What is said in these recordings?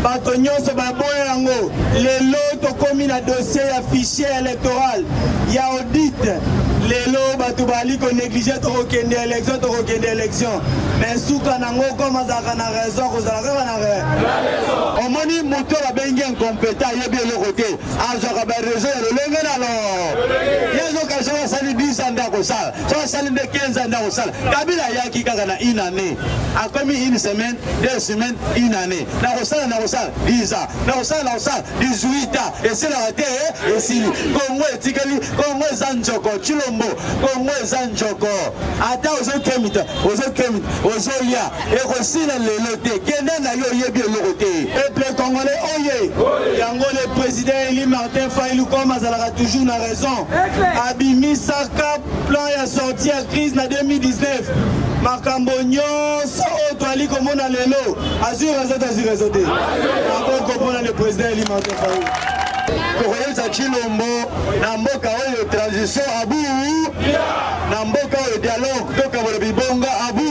bato nyonso baboya yango. Lelo tokomi na dossier ya fichier electoral ya audit. Lelo bato bali ko neglige tokokende election tokokende election me suka nango comme azalaka na raison akozala kaka na raison. Omoni moto babengi incompeta ayebi eloko te azwaka ba raison ya lolenge na lo ye azoka soki asali 10 ans nde akosala soki asali nde 15 ans nde akosala kabila ayaki kaka na une année akomi une semaine deux semaines une année nakosala nakosala 10 ans nakosala nakosala 18 ans esilaka te eh, esili kongo etikeli kongo eza njoko chilombo kongo eza njoko ata ozokemita ozokemita ozolia ekosila lelo te kende na yo oyebi eloko te peuple congolais oye yango le président eli martin failu comme azalaka toujours na raison abimisaka plan ya sortie ya crise na 2019 makambo nyonso so oyo toali komona lelo azwi rezo te azwi rezo te akoki komona le président eli martin faulu tokoyesa chilombo na mboka oyo transition abuu na mboka oyo dialogue tokabola bibonga abuu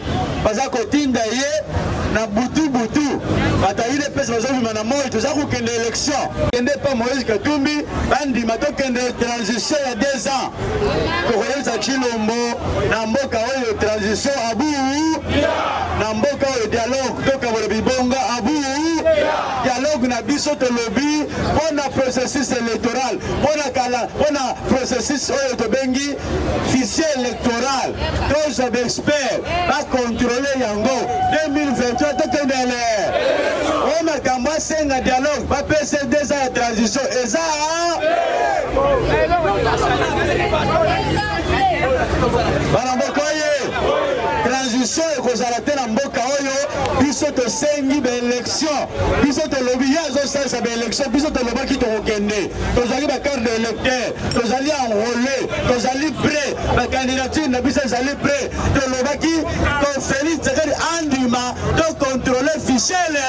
baza kotinda ye na butu butu bato ayile mpesa bazobima na moi toza kokende élection kende mpa moïse katumbi bandima tokende transition ya deux ans tokoyebisa chilombo na mboka oyo transition abuu na mboka oyo dialogue tokabola bibonga abuu dialogue na biso tolobi mpo na processus électoral mpo na kala mpo na processus oyo tobengi fichier électoral toza baexpert bakontrole yango 2023 tokendele oyo makambo asenga dialogue bapesa eza ya transition eza bana mboka oye transition ekozala te na mboka oyo biso tosengi baélection biso tolobi ye azosalisa baélection biso tolobaki tokokende tozwaki bacarte de électeur tozali enrole tozali pre bakandidature na biso ezali pre tolobaki to felix tshisekedi andima tokontrole fichele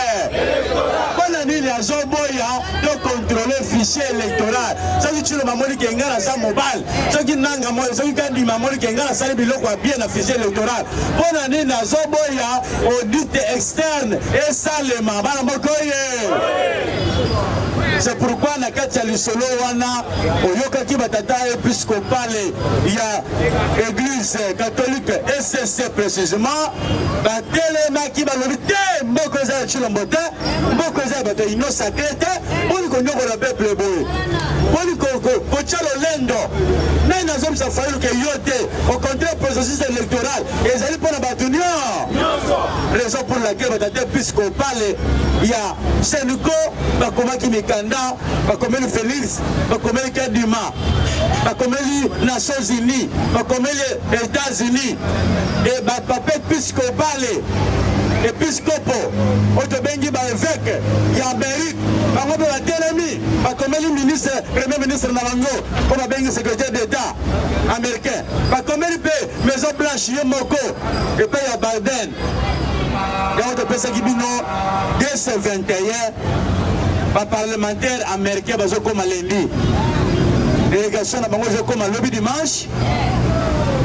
mpo na nini azoboya tokontrole fiche électoral soki tshiloma amoni ke ngai naza mobali soki nanga moi soki kandima amoni ke ngai nasali biloko ya bien na fiche électoral mpo na nini azoboya audit externe esalema bana moko ye c'est pourquoi na kati ya lisolo wana oyokaki batata episkopale ya eglise catholique ecc précisément batelemaki balobi te mboka eza ya tshilombo te mboka eza ya bato ya union sacré te mponi konyokola peuple boye mponi kotya lolendo nani nazomisa fayulu ke yo te au contraire processus électoral ezali mpo na bato nyonso raison pour laquelle batata episkopale ya seniko bakomaki mikanda bakomeli Felix, bakomeli Kadima, bakomeli Nations Unies, bakomeli Etats-Unis, et bapapa episkopale episkopo oyo tobengi baeveke ya amerike bango mpe batelemi bakomeli ministre premier ministre na bango mpo babengi secrétaire d'état américain bakomeli mpe maison blanche ye moko epai ya biden ngai topesaki bino 221 baparlementaire américain bazokoma lendi délégation na bango ezokoma lobi dimanche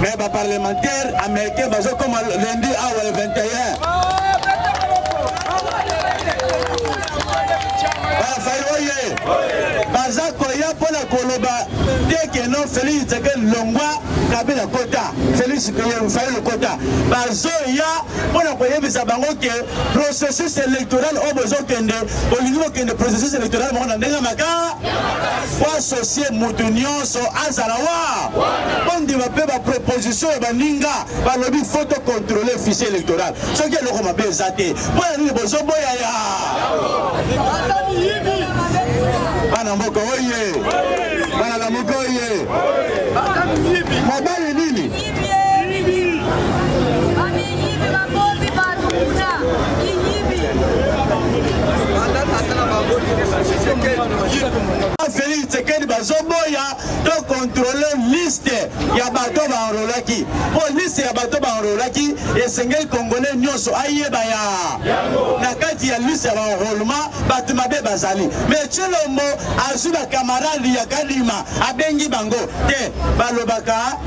mais baparlementaire américain bazokoma lendi awa le 21 bafai oye baza koya mpo na koloba te keno felix tshisekedi longwa kabila kota Felix Peye Rufai Lokota bazoya mpo na koyebisa bango ke processus électoral oyo bozokende bolingi bokende processus électoral moko na ndenge ya makaa po asocie moto nyonso azala wa bondima mpe baproposition ya baninga balobi fo to contrôle fichier électoral soki eloko mabe eza te mpo ya nini bozoboya ya bana mboka oye Kala mokoye. Mobali nini? Felix Tshisekedi bazoboya to kontrole liste ya bato baenrolaki mpo liste ya bato baenrolaki esengeli kongole nyonso ayeba ya na kati ya liste ya baenrolement bato mabe bazali me tshilombo azwi bakamarade ya kadima abengi bango te balobaka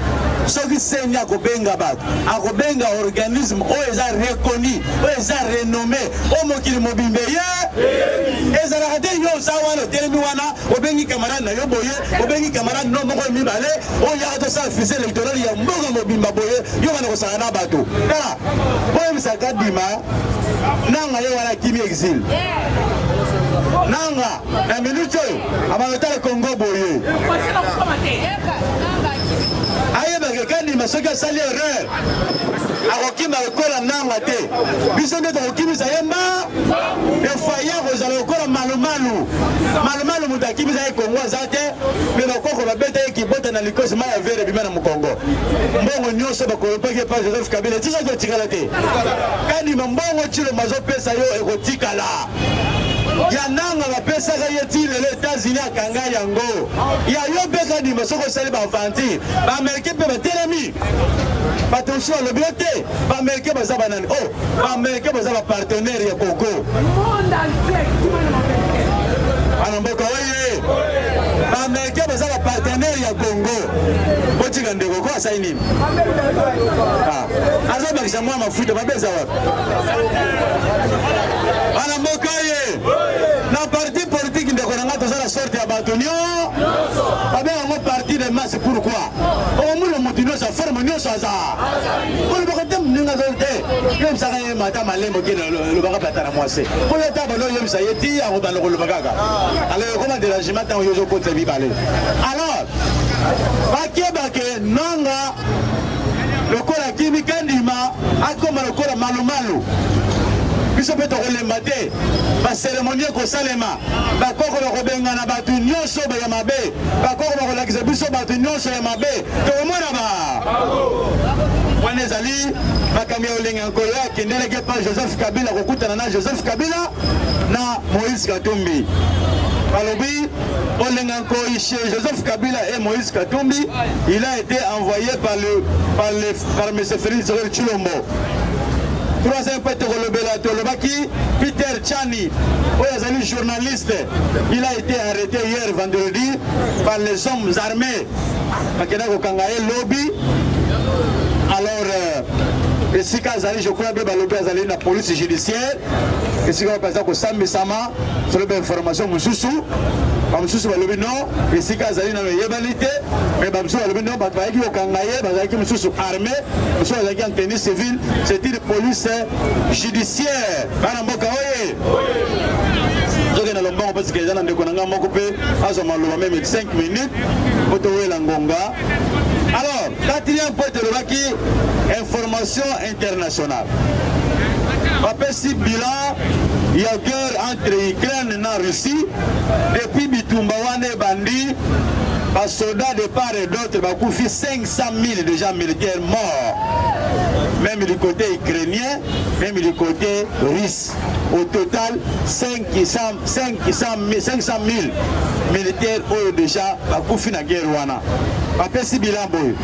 soki seni akobenga bato akobenga organisme oyo eza reconi oyo eza renome oyo mokili mobimba ye ezalaka te yo oza wana otelemi wana obengi kamarade na yo boye obengi kamarade no moko mibale oyo yaka tosala fise electorale ya mboka mobimba boye yo bana kosaka na bato tala boyebisaka dima nanga ye wana akimi exile nanga na minute oyo abalotala kongo boye ayebaka kadima soki asali erreur akokima lokola nanga te biso nde tokokimisa ye mba efaye akozala lokola malumalu malumalu moto akimisa ye kongo aza te mpe bakoko babeta ye kibota na likosi mai ya vere ebima na mokongo mbongo nyonso bakoyopaki epa joseph kabila etikaki etikala te kanima mbongo cilombo azopesa yo ekotikala ya nanga bapesaka ye ti lelo etats-unis akanga yango ya yo mpe kanima soki osali baaventure baamerikain mpe batelemi Patricio alobi yo te baamerikain baza banani o oh, baamerikain baza bapartenaire ya kongo ana mboka oye baamerikain baza bapartenaire ya kongo botika ndeko ko asali nini ah, azobakisa mwa mafuta babe eza wapi ana mboka oye na parti politike ndeko na ngai toza na sorte ya bato nio babe yango parti de masse pourquoi okomona moto nyonso ya forme nyonso aza kolobaka te moninga azali te yebisaka ye mata malembo kende olobaka plata na mwasi oyo ata bando oyebisa ye ti akobanda koloba kaka alors ekoma derangement ntango yo ozokotisa bibale alors bakebake nanga lokola kimi kandima akoma lokola malumalu biso mpe tokolemba te baseremoni ekosalema bakoko bakobengana bato nyonso baya mabe bakoko bakolakisa biso bato nyonso ya mabe tokomona ba wana ezali makambo ya olenge ya nkolo akendelaki epa joseph kabila kokutana na joseph kabila na moïse katumbi balobi olenga nkoi chez joseph kabila et moïse katumbi il a été envoyé par le par le par m félix rel chilombo troisième mpe tokolobela tolobaki peter chani oyo azali journaliste Il a été arrêté hier vendredi par les hommes armés. Bakenda kokanga ye lobi. Alors euh, esika azali je crois be balobi azali na police judiciaire esika wapi aza kosambisama solo bainformation mosusu bamosusu balobi no esika azali nano eyebani te me bamosusu balobi no bato bayaki kokanga ye bazalaki mosusu armé mosusu bazalaki en tenue civile c'est une police judiciaire bana mboka oye tokenda lombango mpe sikeza na ndeko na ngai moko mpe azwa maloba meme 5 minutes mpo towela ngonga alors quatrième point tolobaki information internationale bapesi bilan ya guerre entre ukraine na russie depuis bitumba wana ebandi basoda de part et d'autre bakufi 500 000 déjà militaire mort même du côté ukrainien même du côté russe Est. Au total 500 000 militaires oyo deja bakufi na guerre wana bapesi bilan boye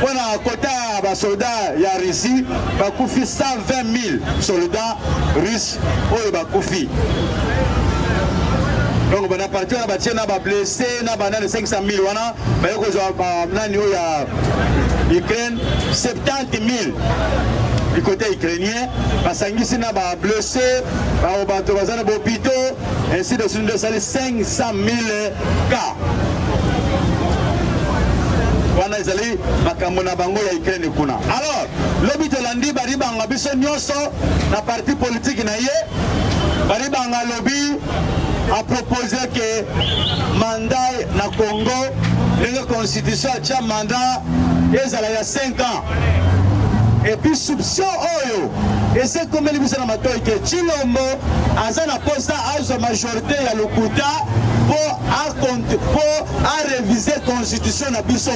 mpo na kota ya basoda ya russie bakufi 120 000 soldats russe oyo bakufi donc bana parti wana batie na bablesse na banani 500 000 wana baye kozwa banani oyo ya ukraine 70 du côté ukrainien basangisi na ba blessé bao bato baza na bopito ainsi de suite nde esali 500 000 cas wana ezali makambo na bango ya ukraine kuna alors lobi tolandi baribanga biso nyonso na parti politike na ye baribanga alobi apropose ke mandat na congo ndenge constitution atya mandat ezala ya epuis souption oyo ese ekomeli biso na matoi te cilombo aza na posa azwa majorité ya lokuta mpo arevise constitution na biso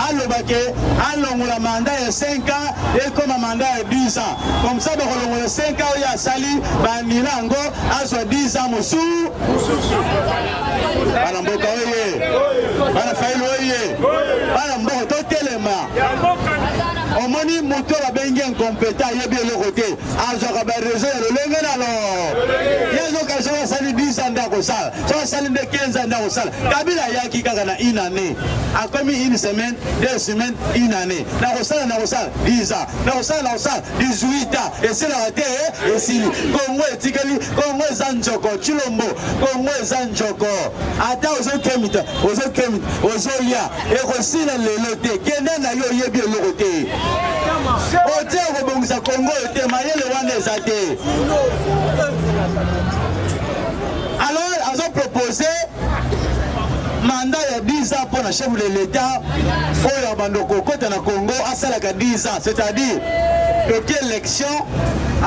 aloba ke alongola manda ya 5 ans ekoma manda ya 10 ans comme ça bakolongola 5 ans oyo asali baanila yango azwa 10 ans mosusu Bana mboka oye! Bana Fayulu oye! Bana mboka totelema! Omoni moto babengi incompeta ayebi eloko te azwaka barezo ya lolenge na lo yezoka soki asali 10 ans nde akosala soki asali nde 15 ans nde akosala kabila ayaki kaka na une année akomi une semaine deux semaines une année nakosala nakosala 10 ans nakosala nakosala 18 ans esilaka te esili kongo etikali kongo eza nzoko chilombo Congo eza njoko, ata ozokemita ozokemita ozolia ekosila lelo te, kende na yo oyebi eloko te otie okobongisa Congo oyo te, mayele wana eza te. Alors azo propose manda ya 10 ans mpo na chef de l'etat oyo abando kokota na Congo asalaka 10 ans, c'est-à-dire toki élection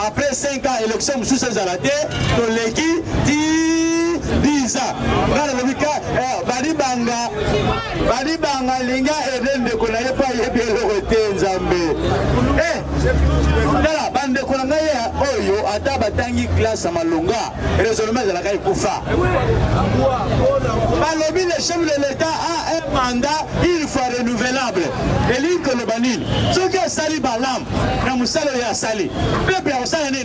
après 5 ans élection mosusu ezala te toleki ti biza ngai nalobi ka eh, balibanga balibanga alingi aede ndeko na ye mpo ayebi eloko te nzambe eh, tala bandeko na ngai oyo ata batangi klase ya malonga raisonnement ezalaka ekufa balobi le chef de l'etat a un mandat une fois renouvelable elingi koloba nini soki asali balamu na mosala oyo asali pepe akosala nini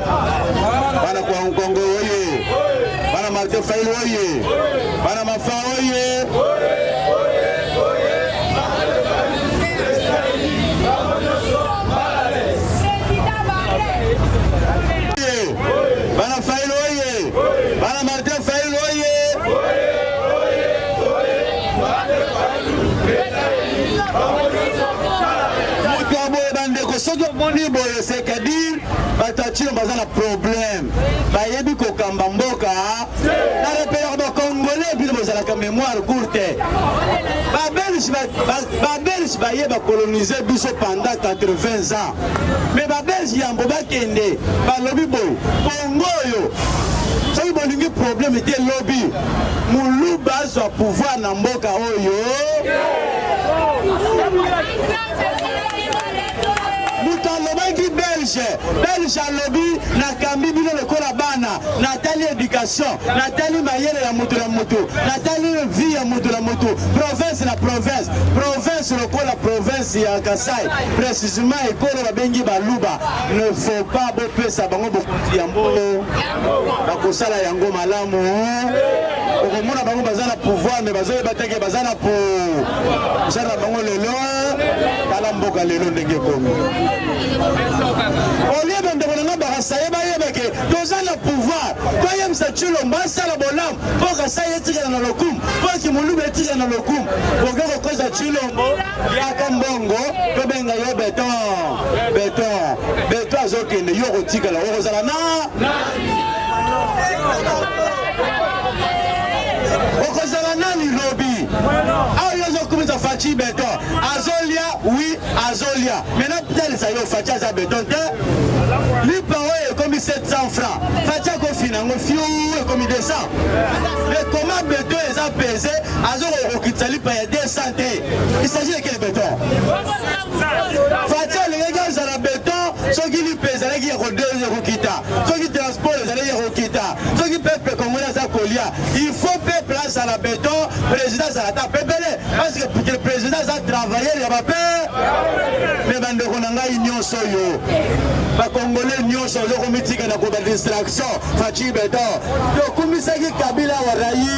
Bana kwa Nkongo oye! Bana Martin Fayulu oye! Bana Mafa oye! Bana Fayulu oye! Bana Martin Fayulu oye! Moto ya boye bandeko soki omoni boye sekadi Batatino baza na problème, bayebi kokamba mboka na repelaka ba congolais bino bozalaka mémoire courte. Ba belge ba belge baye ba coloniser biso pendant 80 ans, mais ba belge yambo bakende balobi boye Congo oyo soki bolingi problème te lobi muluba azwa pouvoir na mboka oyo. moto alobaki belge belge alobi nakambi bino lokola bana natali education natali mayele ya moto na moto natali vie ya moto na moto province na province province lokola province ya kasai precisement ekolo babengi baluba ne faut pas bopesa bango bokonzi ya mbongo bakosala yango malamu okomona bango baza na pouvoir me bazoyeba teke baza na po osala na bango lelo tala mboka lelo ndenge ekomi olie bandeko na nga bakasaye bayebake toza na pouvoir toyebisa cilombo asala bolamu mpo kasaye etikala na lokumu mpo kimuluba etikala na lokumu boke kokoza cilombo Yaka mbongo tobenga yo beton beton beton azokende yo okotikala okozala na okozala nani lobi ayo ozokumisa faci beton azolia wi azolia mena talisa yo faci aza beton te lipa oyo ekomi 700 franc faci akofina yango fiu ekomi 200 ekoma beton eza pese azokokokitisa lipa ya 200 te Il s'agit de quel béton Fatih alingaki azala béton soki lipe ezalaki ya kodeze kokita, soki transport ezalaki ya kokita, soki peuple congolais aza kolia, il faut peuple azala béton, président azala ata pepele, parce que président aza travailleur ya bape me bandeko na ngai nyonso oyo bakongole nyonso ozokomitika na koba distraction faci beton tokumisaki kabila warai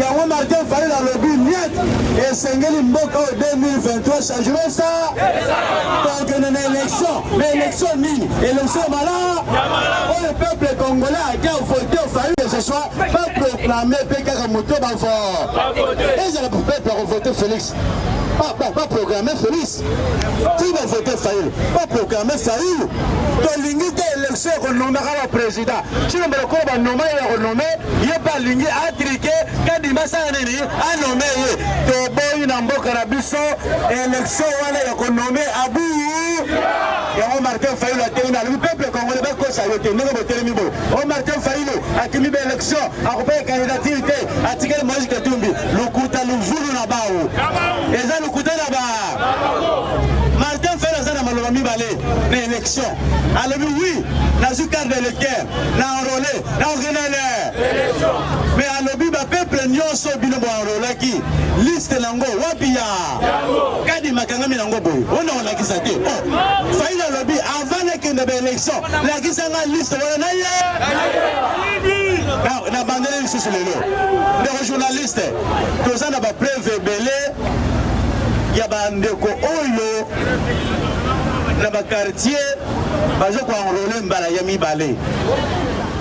Yango Martin Fayulu alobi niet esengeli mboka oyo 2023 changement esa tokende na election na election nini election mala oyo peuple congolais ake vote Fayulu que ce soit pas proclame mpe kaka moto bavo ezala peuple akovote Felix ba programme Felix ti ba vote Fayulu ba programme Fayulu tolingi te élection ya konomaka ba président cino mbala koyo banoma ye ya konome ye mpe alingi atrike kadima asala nini anome ye toboyi na mboka na biso élection wana ya konome abuyu yango martin fayulu atelemi alobi peuple congolais bakosa yo te ndenge botelemi boye o martin fayulu akimi ba élection akopaya candidature te atikali moise katumbi lokuta luvulu na bao eza lokuta na ba martin fer aza na maloba mibale na élection alobi wi nazwi carte d'électeur na enrole na okenele me alobi bapeuple nyonso bino boenrolaki liste na ngo wapi ya kadi makangami na ngo boye ona olakisa te oh, faile alobi avant nakende baélection lakisa nga liste wana na ye na bandeli lisusu lelo ndeko journaliste toza na bapreuve ebele ya bandeko oyo na bakartier baza koenrole mbala ya mibale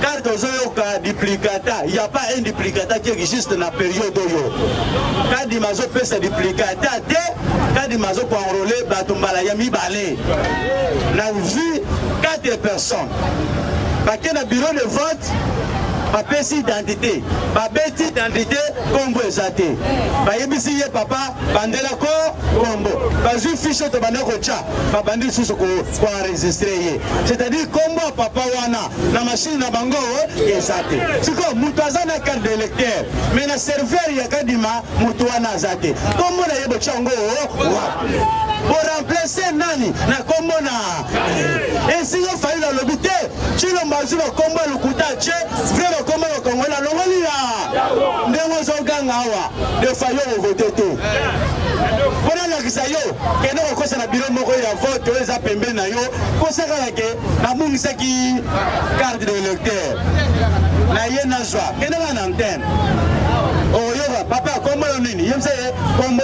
car tozoyoka duplicata ya pa un duplicata qui existe na periode oyo kadima azopesa duplicata te kadima azokoenrole bato mbala ya mibale na vie 4 personnes bake na bureau de vote bapesi identité babeti identité nkombo eza te bayebisi ye papa bandela ko nkombo bazwi fishe to banda kotya babandi lisusu koenregistre ye c'est-à-dire nkombo ya papa wana na mashine na bango eza te sikoyo moto aza na carte d'électeur mais na serveur ya kadima moto wana aza te nkombo na ye botya yango wapi boremplace nani na nkombo na esinga fayulu alobi te cilombo azwi bakombo ya lokuta ce vre bakombo ya bakongole alongoli ya ndenge ozoganga awa defa yo ovote te mpo nalakisa yo kende kokosa na biro moko ya vote oyo eza pembeni na yo kosakana ke nabungisaki carte de lecteur na ye nazwa kende na antenne okoyoka papa kombo yo nini ye mse ye kombo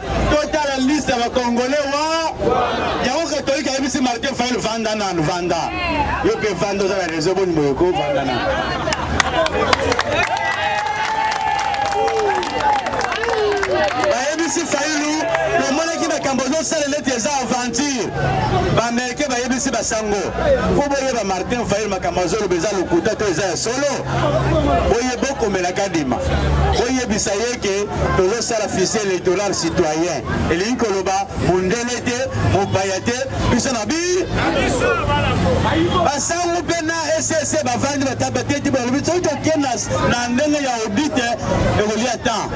totala liste ya bakongole wa yango katolike ayebisi martin fail vanda nanu vanda yo mpe vanda oza na reseau boni boye ko vanda nanu bayebisi failu tomonaki makambo ozosala neti eza aventure baamerikain bayebisi basango mpo boyeba martin failu makambo azoloba eza lokuta to eza ya solo boye bokomelaka dima boyebisa ye ke tozosala fise electoral citoyen elingi koloba mondele te mopaya te biso na bi basango mpe na ss bavandi batabaketi balobi soki tokenda na ndenge ya audite ekolia temps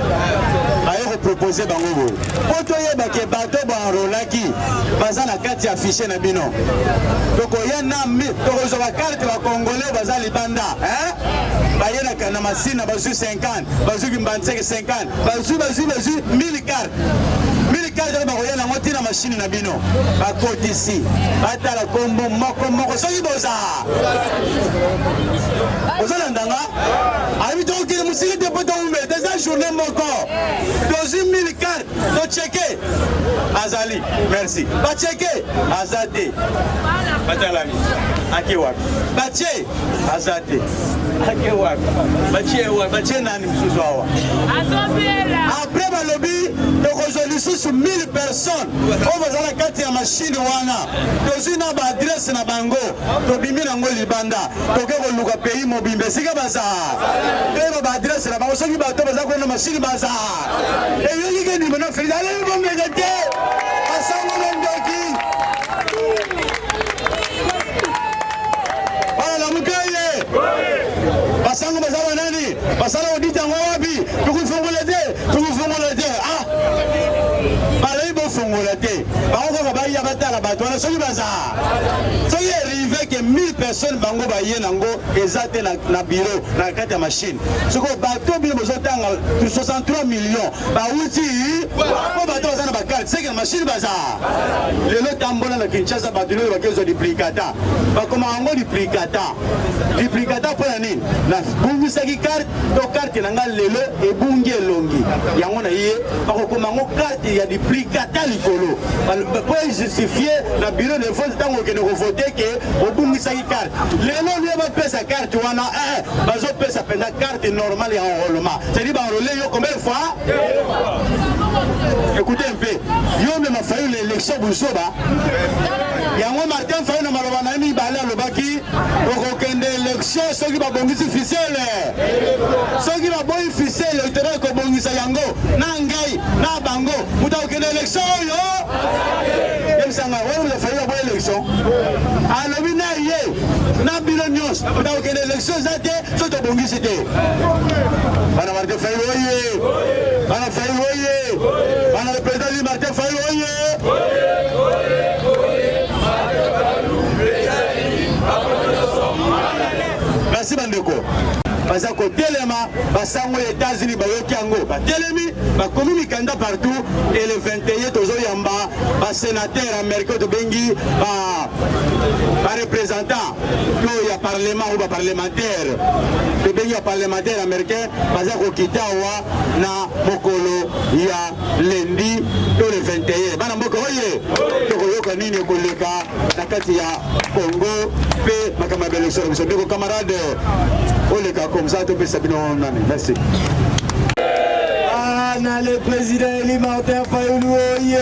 aye kopropose bango boye mpo toyeba ke bato baenrolaki baza na kati ya fiche na bino tokoya na tokozwa bakarte bakongole baza libanda baye na masina bazwi 50 bazwi bimbanseke 50 bazwi bazwi bazwi 1000 carte 1000 carte nde bakoya nango ntina mashini na bino bakotisi batala nkombo moko moko soki boza ozolanda nga ayebi tokokende mosili te mpo towumela te eza journée moko tozwi 1000 carte tocheke azali merci bacheke aza te batalami ake wapi batie aza te ake wapi batie wapi batie nani mosusu awa apres balobi tokozwa lisusu 1000 personnes oyo baza na kati ya mashine wana tozwi na baadrese na bango tobimi nango libanda toke koluka pays mobimba esika baza toyeba baadrese na bango soki bato baza kuna na mashine baza eyoki ke ndimbo na felix aleli bomeke te Bana Lamuka ye. Basango baza ba nani? Basala audit yango wapi? Tokofongola te, tokofongola te. Ah. Balobi bofongola te. Bango kaka baya batala bato wana soki baza. Soki erive ke 1000 personnes bango baye nango eza te na, na bureau na kati ya machine. Soki bato bino bozotanga 63 millions bawuti mpo bato baza na bakarte na mashine baza lelo tambola na kinshasa bato lelo bakezwa duplicata bakoma yango duplicata duplicata mpo na nini nabungisaki karte to karte na ngai lelo ebungi elongi yango na ye bakokoma yango karte ya duplicata likolo mpo ejustifie na biro de vote ntango okende kovote ke obungisaki karte lelo lio bapesa karte wana eh, bazopesa mpenza karte normale ya enrollement cetadi baenrole yo combien fois Écoutez un peu. Yo mema Fayulu élection buzoba. Yango Martin Fayulu na maloba na ye mibale alobaki okokende élection soki babongisi fisele. Soki baboyi fisele otera ekobongisa yango na ngai na bango moto akokende élection oyo yebisanga oyo moto Fayulu aboyi élection alobi na ye na bino nyonso moto akokende élection eza te soki tobongisi te. Martin Fayulu oye! Bana Fayulu oye! Bana le président dit Martin Fayulu oye! Merci bandeko. baza kotelema basango ya etats-unis bayoki yango batelemi bakomi mikanda partout e le 21 tozoyamba basenateur américain tobengi barepresentant to ya parlement oyo baparlementaire tobengi baparlementaire américain baza kokita awa na mokolo ya lendi to le 21 bana mboka oye tokoyoka nini ekoleka na kati ya congo mpe makambo ya belesoro biso ndeko camarade oleka komsa topesa bino nani merci ana le président eli martin fayulu oye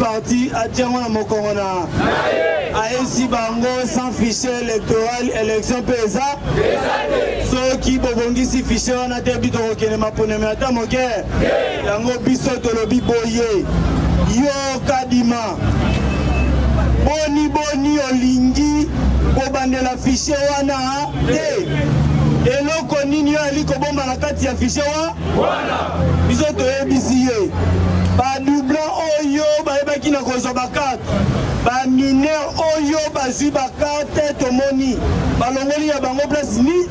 Parti atie yango na mokongo na ayesi bango sans fichier électoral élection mpe eza soki bobongisi fichier wana te bi tokokende maponami ata moke yango biso tolobi boye yo kadima boni boni olingi kobandela fichier wana te eloko nini yo ali kobomba na kati ya fichier wana wana biso toyebisi ye badublan oyo bayebaki na kozwa bakarte bamineur oyo bazwi bakarte tomoni balongoli ya bango place ni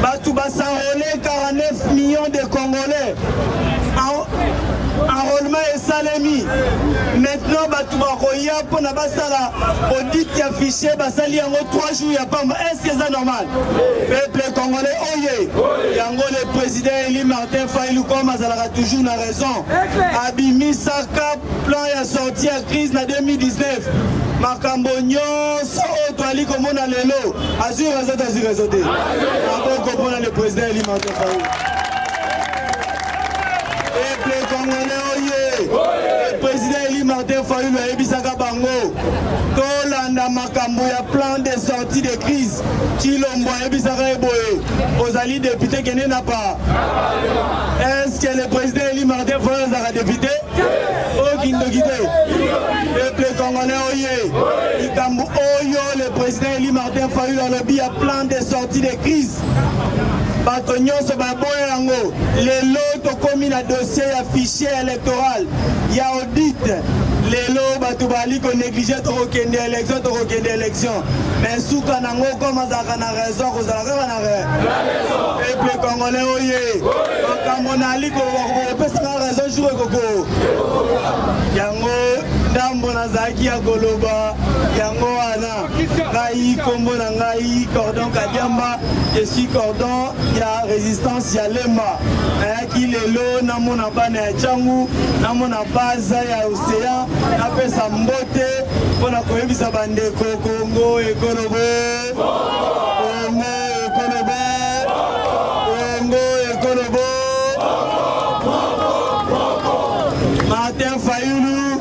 bato basanrole 49 millions de congolais enrôlement esalemi maintenant bato bakoya mpo na basala audit ya fichier basali yango 3 jours ya pamba est ce que eza normal peuple congolais oye yango le president eli martin failu comme azalaka toujours na raison abimisaka plan ya sortie ya crise na 2019 makambo nyonso oyo toali komona lelo azwi raison te azwi raison te akoki komona le president eli martin failu Peuple congolais oye! Le président élu Martin Fayulu ayebisaka bango tolanda makambo ya plan de sortie de crise. Chilombo ayebisaka ye boye, ozali député kende na pa. Est-ce que le président élu Martin Fayulu azalaka député? Oyo kindoki te. Peuple congolais oye! Likambo oyo le président élu Martin Fayulu alobi ya plan de sortie de crise bato nyonso baboya yango. Lelo tokomi na dossier ya fichier electoral ya audit. Lelo bato bali koneglige tokokende election tokokende election me suka nango koma azalaka na raison kozala kaka na peuple congolais oye makambo nali kopesa na raison jour ekoko yango ndambo nazalaki ya koloba yango wana ngai kombo na ngai cordon kadiamba je suis cordon ya résistance ya lemba nayaki lelo namona bana ya cangu namona baza ya océan napesa mbote mpo na koyebisa bandeko kongo ekolobo kongo ekolobo kongo ekolobo martin fayulu